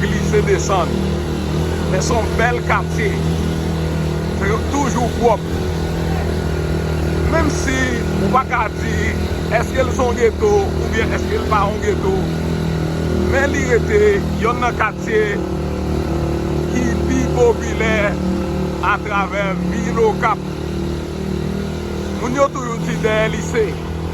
Glise desann men son bèl katye men yo toujou pwòp menm si ou pa ka di eske l son geto oubyen eske l pa yon geto men li rete yonn nan katye ki pi popilè atravè vil okap moun yo toujou di dèyè lise.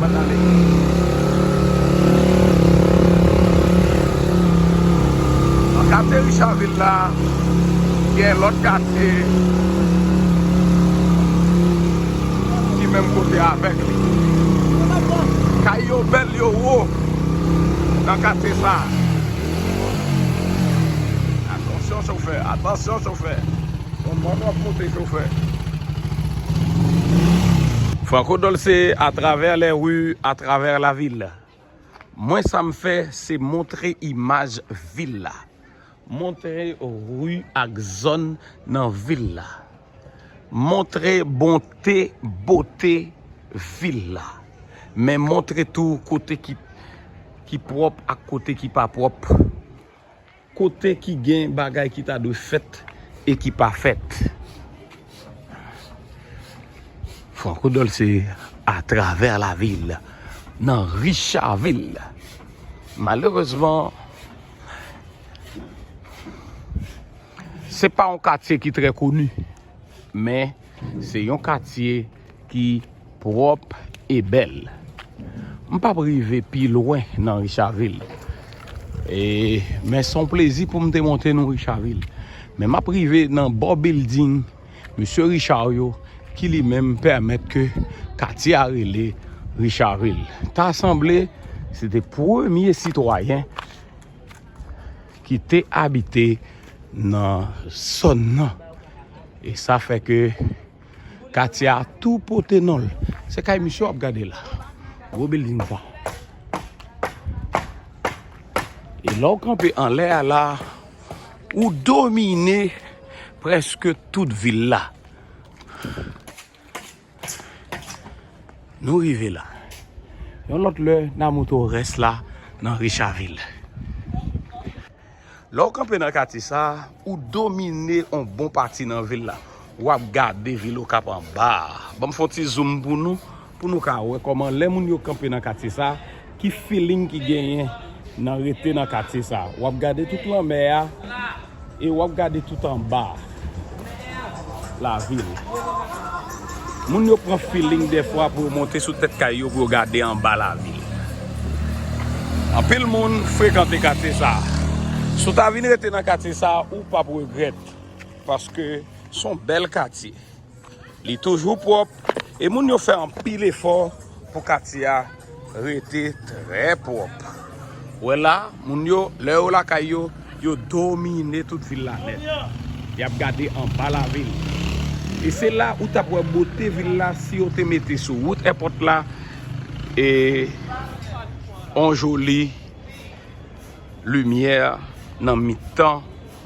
Bann anmède. Nan katye Richard Ville la, gen lòt katye ki menm kote avèk li. Kay yo bèl, yo wo nan katye sa. Atansyon chofè, atansyon chofè. Franco Dolce a travè lè ri a travè la vil mwen sa m fè se montre imaj vil la montre ri ak zòn nan vil la montre bonte bote vil la men montre tou kote ki pwòp ak kote ki pa pwòp Kote ki gen bagay ki ta dwe fèt e ki pa fèt. Franco Dolce atravè lavil nan Richavil. Malerezman, se pa yon katye ki trè koni, men se yon katye. ki pwòp e bèl. M pap rive pi lwen nan Richavil. E men son plezi pou m te monte nou Richavil. Men map rive nan bò bilding Mesye Richard yo ki li menm pèmèt ke katye a rele Richavil. Ta sanble se te premye sitwayen ki te abite nan zòn nan. E sa fè ke. Katye a tou pote non l. Se kay misye w ap gade la. Gwo bilding sa. E lè w kanpe anlè a la, ou domine prèske tout vil la. Nou rive la. Yon lòt lè, n a montre w rès la nan Richavil. Lè ou kanpe nan katye sa, ou domine yon bon pati nan vil la. Ou ap gade vil Okap anba a. Ban m fè yon ti zoom pou nou, pou nou ka wè kòman lè moun yo kanpe nan katye sa, ki feeling ki genyen nan rete nan katye sa. Ou ap gade tout lanmè a e ou ap gade tout anba a. Lavi l. Moun yo pran feeling dèfwa pou yo monte sou tèt kay yo pou yo gade anba lavi l. Anpil moun frekante katye sa a. Si w ta vin rete nan katye sa a, ou pap regrèt paske s on bèl katye. Li toujou pwòp e moun yo fè anpil efò pou katye a rete trè pwòp. Ou wè la, moun yo, lè yo lakay yo, yo domine tout vil la nèt. Y ap gade anba lavil. E se la ou t ap wè bote vil la si yo te mete sou wout èpòt la yon joli limyè nan mitan.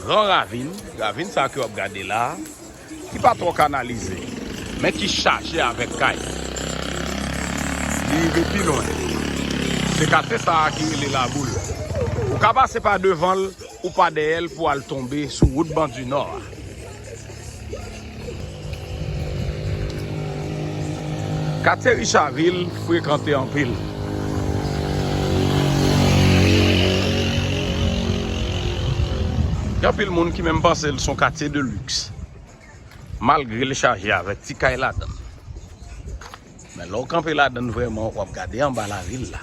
Gran ravin, ravin sa ke wap gade la, ki pa twò kanalize, men ki chaje avèk kay. Li rive pi lwen. Se katye sa ki rele Laboul. Ou ka pase pa devanl, ou pa dèyèl pou al tonbe sou wout Bandunò a. Katye Richavil frekante anpil. Gen anpil moun ki menm panse l son katye de lux. Malgre l chaje avèk ti kay ladan l. Men lè w kanpe ladan l vrèman, w ap gade anba lari l la.